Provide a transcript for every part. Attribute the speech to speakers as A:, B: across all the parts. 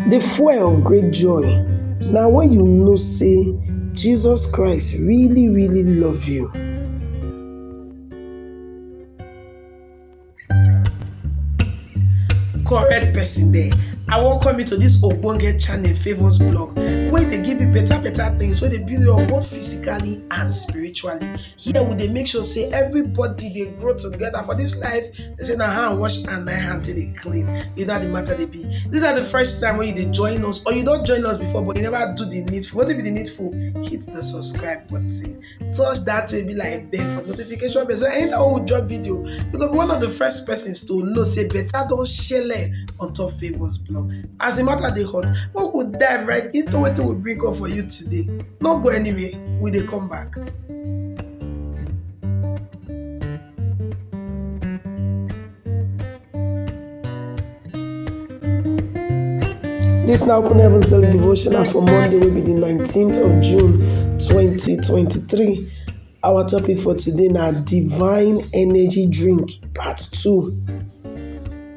A: Di fuel of great joy na wen you know sey Jesus Christ really really love you. Correct person there, I welcome you to dis ogbonge channel Favours Blog wey dey give you better better things wey dey build you up both physically and spiritually. here we dey make sure say everybody dey grow together for this life they say na hand wash and na hand take dey clean you know how the matter dey be this na the first time wey you dey join us or you don join us before but you never do the needful wetin be the needful hit the subscribe button touch that way be like bell for notification bell so anytime we drop video you go be one of the first persons to know say better don shele on top favours blog as the matter dey hot make we dive right into wetin we bring up for you today no go anywhere. we dey come back. This now Open Heavens Daily Devotional for Monday will be the 19th of June 2023. Our topic for today now Divine Energy Drink Part 2.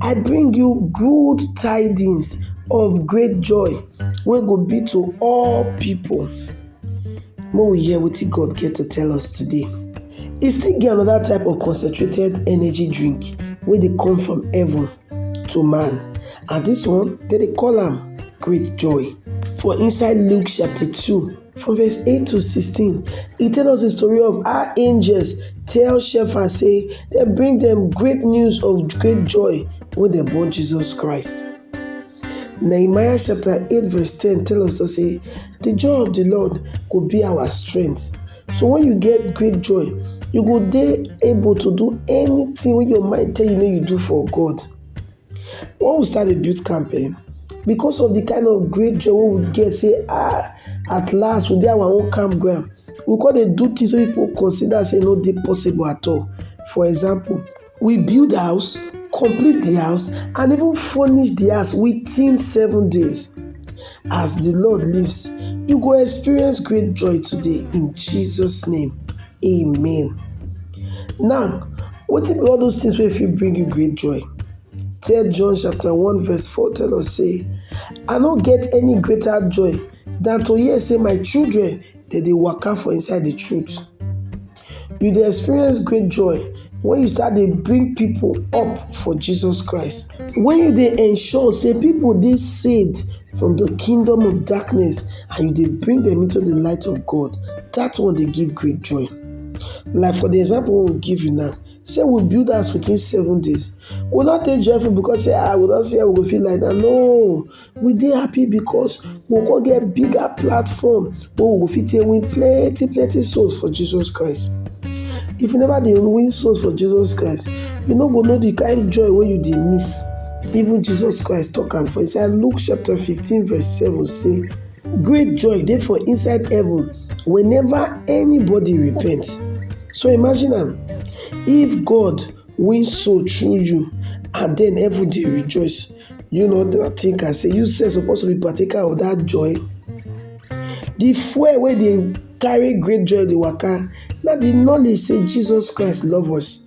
A: I bring you good tidings of great joy wey go be to all people. Make we hear wetin God get to tell us today. E still get another type of concentrated energy drink wey dey come from heaven to man and this one dem dey call am great joy. For inside Luke chapter 2 For verse 8-16, e tell us the story of how angels tell shepherds say dem bring dem great news of great joy when dem born Jesus Christ. Nehemiah chapter 8 verse 10 tell us to say, the joy of the Lord go be our strength. So when you get great joy, you go dey able to do anything wey your mind tell you make you do for God. Wen we start dey build camp um because of de kind of great joy wey we get sey um at last we dey our own camp ground, we come dey do things wey pipu consider sey e no dey possible at all. For example, we build house, complete de house and even furnish de house within seven days. As de Lord lives, you go experience great joy today in Jesus name. Amen. Now, wetin be all those things wey fit bring you great joy? Tell John chapter 1 verse 4 tell us say, I no get any greater joy than to hear say my children dem dey waka for inside the truth. You dey experience great joy when you start dey bring people up for Jesus Christ. When you dey ensure say people dey saved from the kingdom of darkness and you dey bring them into the light of God, that one dey give great joy. Like for the example we give you now, say we build house within seven days we not dey joyful because say ah we don see how we go feel like that no we dey happy because we go get bigger platform wey we go fit take win plenty plenty souls for jesus christ if you never dey win souls for jesus christ you no go know the kind joy wey you dey miss Even Jesus Christ tok am for inside Luke chapter 15 verse 7 say, Great joy dey for inside heaven whenever anybody repent. So imagine am, if God win soul through you and then heaven dey rejoice, you no dey think am say you sef suppose to be partaker of that joy? The fuel wey dey carry great joy dey waka na the knowledge say Jesus Christ love us.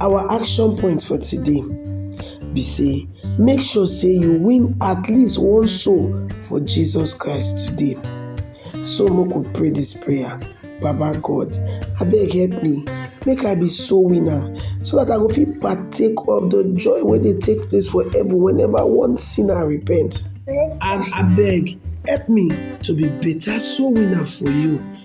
A: Our action point for today be say make sure say you win at least one soul for Jesus Christ today. So make we pray this prayer. Baba God, abeg help me make I be soul winner so that I go fit partake of the joy wey dey take place for heaven whenever one sinner repent. And abeg help me to be better soul winner for you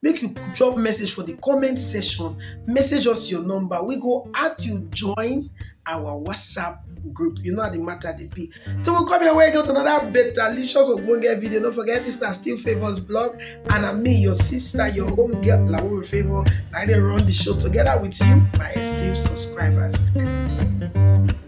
A: make you drop message for the comment section message us your number we go add you join our whatsapp group you know how the matter dey be so we come your way get another betalicious ogbonge video no forget this na still favours blog and na me your sister your home girl lawuri favour na i dey run the show together with you my esteemed subscribers.